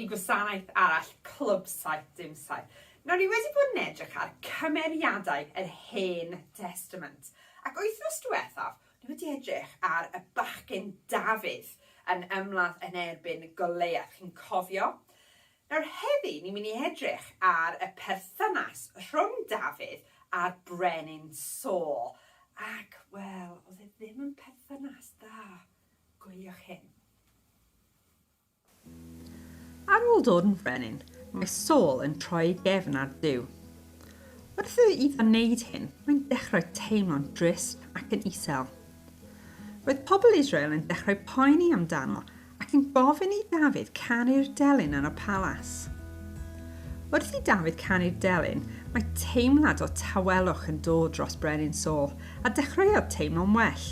i gwasanaeth arall Clwb 77. Nawr ni wedi bod yn edrych ar cymeriadau yr Hen Testament ac wythnos diwethaf ni wedi edrych ar y bachgen Dafydd yn ymladd yn erbyn Goleiath. Chi'n cofio? Nawr heddi ni'n mynd i edrych ar y perthynas rhwng Dafydd a'r brenin Saul, ac, wel, oedd e ddim yn perthynas dda. Gwyliwch hyn. Ar ôl dod yn frenin, mae Saul yn troi ei gefn ar Duw. Wrth iddo wneud hyn, mae'n dechrau teimlo'n drist ac yn isel. Roedd pobl Israel yn dechrau poeni amdano ac yn gofyn i Dafydd canu'r delyn yn y palas. Wrth i Dafydd canu'r delyn, mae teimlad o tawelwch yn dod dros Brenin Saul, a dechreuodd teimlo'n well.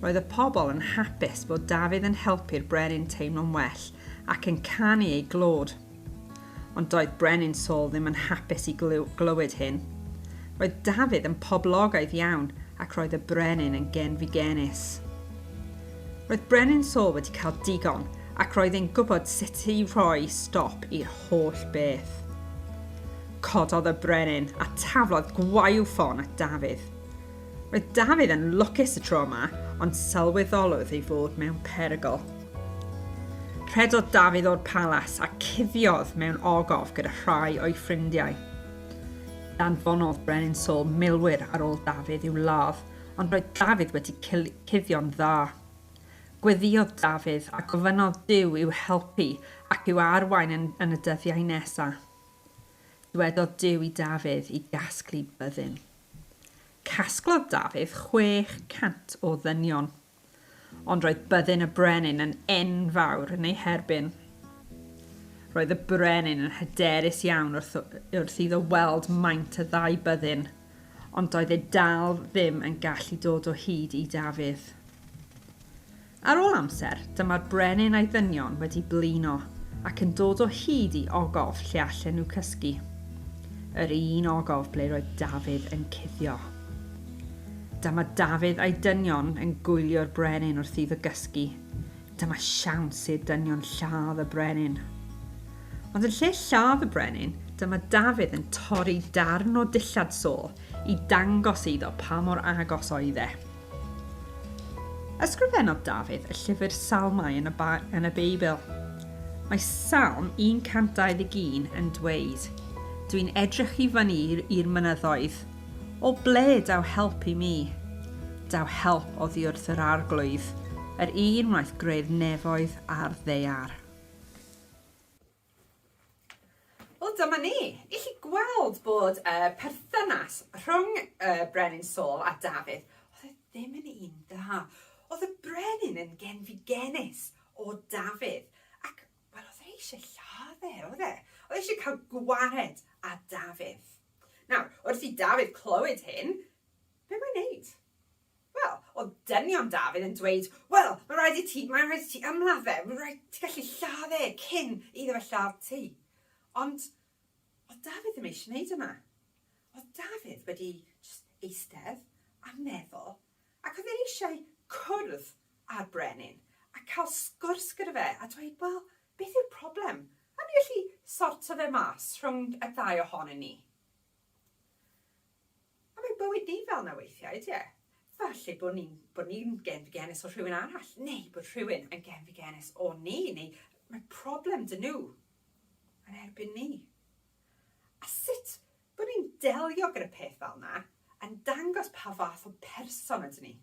Roedd y pobl yn hapus bod Dafydd yn helpu'r brenin teimlo'n well ac yn canu ei glod. Ond doedd Brenin Saul ddim yn hapus i glywed hyn. Roedd Dafydd yn poblogaidd iawn ac roedd y brenin yn genfigennus. Roedd Brenin Saul wedi cael digon ac roedd e'n gwybod sut i roi stop i'r holl beth. Cododd y brenin a taflodd gwaywffon at Dafydd. Roedd Dafydd yn lwcus y tro yma, ond sylweddolwyd ei fod mewn perygl. Rhedodd Dafydd o'r palas a cuddiodd mewn ogof gyda rhai o'i ffrindiau. Danfonodd Brenin Saul milwyr ar ôl Dafydd i'w ladd, ond roedd Dafydd wedi cuddio'n dda. Gweddïodd Dafydd a gofynnodd Duw i'w helpu ac i'w arwain yn, yn y dyddiau nesaf. Dywedodd Duw i Dafydd i gasglu byddin. Casglodd Dafydd 600 o ddynion, ond roedd byddin y brenin yn enfawr yn ei herbyn. Roedd y brenin yn hyderus iawn wrth, wrth iddo weld maint y ddau byddin, ond doedd e dal ddim yn gallu dod o hyd i Dafydd. Ar ôl amser, dyma'r brenin a'i ddynion wedi blino ac yn dod o hyd i ogof lle allen nhw cysgu. Yr un ogof ble roedd Dafydd yn cuddio. Dyma Dafydd a'i dynion yn gwylio'r brenin wrth iddo gysgu. Dyma siawns i'r dynion lladd y brenin. Ond yn lle lladd y brenin, dyma Dafydd yn torri darn o dillad Saul i dangos iddo pa mor agos oedd e. Ysgrifennodd Dafydd y llyfr Salmau yn y, yn y Beibl. Mae Salm 121 yn dweud, Dwi'n edrych i fyny i'r mynyddoedd. O ble daw help i mi? Daw help oddi wrth yr arglwydd, yr un wnaeth greu'r nefoedd a'r ddear. Wel dyma ni! I chi gweld bod y uh, perthynas rhwng uh, Brenin Saul a Dafydd, oedd e ddim yn un dda. Oedd y brenin yn genfigenus o Dafydd, ac wel, oedd e eisiau lladd e, oedd e? Oedd e eisiau cael gwared a Dafydd. Nawr, wrth i Dafydd clywed hyn, be mae'n neud? Wel, oedd dynion Dafydd yn dweud, Wel, mae'n rhaid i ti, mae'n rhaid i ti ymladd fe, mae'n rhaid i ti gallu lladd e cyn iddo fe lladd ti. Ond, oedd Dafydd ddim eisiau gwneud yna. Oedd Dafydd wedi just eistedd a meddwl, ac oedd e eisiau cwrdd â'r brenin a cael sgwrs gyda fe a dweud, Wel, beth yw'r problem? Awn ni allu sorto fe mas rhwng y ddau ohonyn ni. A mae bywyd ni fel 'na weithiau, ydy e? Falle bod ni'n bod ni'n genfigennus o rhywun arall, neu bod rhywun yn genfigennus o ni, neu mae problem 'da nhw yn erbyn ni. A sut bod ni'n delio gyda peth fel 'na yn dangos pa fath o person ydyn ni.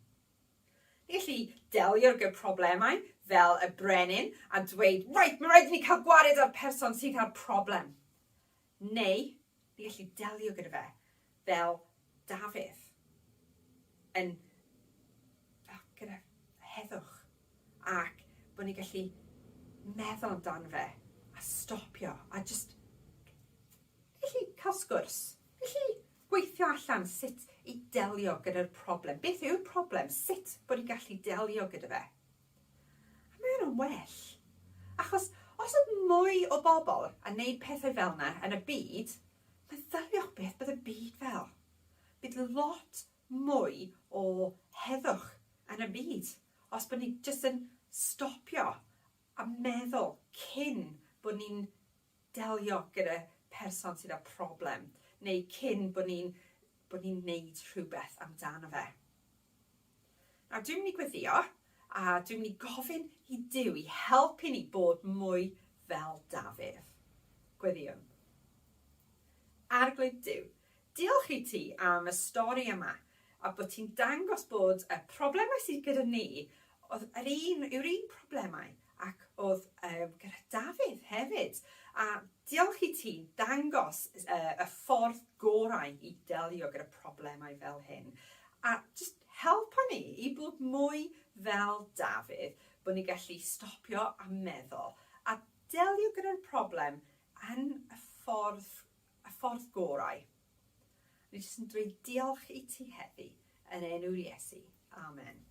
Ni'n gallu delio gyda problemau fel y brenin a dweud, 'Reit, mae rhaid i ni cael gwared â'r person sydd â'r problem. Neu ni'n gallu delio gyda fe fel Dafydd, yn, fel, gyda heddwch, ac bod ni'n gallu meddwl amdano fe, a stopio, a jyst gallu cael sgwrs, gallu gweithio allan sut i delio gyda'r problem. Beth yw'r problem? Sut bod ni'n gallu delio gyda fe? Mae yna well. Achos os oedd mwy o bobl yn neud pethau fel 'na yn y byd, meddyliwch beth bydd y byd fel. Bydd lot mwy o heddwch yn y byd os bod ni jyst yn stopio a meddwl cyn bod ni'n delio gyda person sydd â problem neu cyn bod ni'n bod ni'n wneud rhywbeth amdano fe. Nawr dwi'n mynd i gweddio a dwi'n mynd i gofyn i Duw i helpu ni bod mwy fel Dafydd. Gweddiwn. Arglwydd Duw, Diolch i ti am y stori yma a bod ti'n dangos bod y problemau sydd gyda ni oedd yr un, yw'r un problemau ac oedd um, gyda Dafydd hefyd. A diolch i ti dangos uh, y ffordd gorau i delio gyda problemau fel hyn. A just helpa ni i bod mwy fel Dafydd, bod ni'n gallu stopio a meddwl a delio gyda'r problem yn y ffordd y ffordd gorau. O'n i jyst yn dweud diolch i ti heddi yn enw'r Iesu. Amen.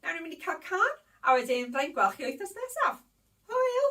Nawr ni'n mynd i cael can, a wedyn byddai'n gweld chi wythnos nesaf. Hwyl!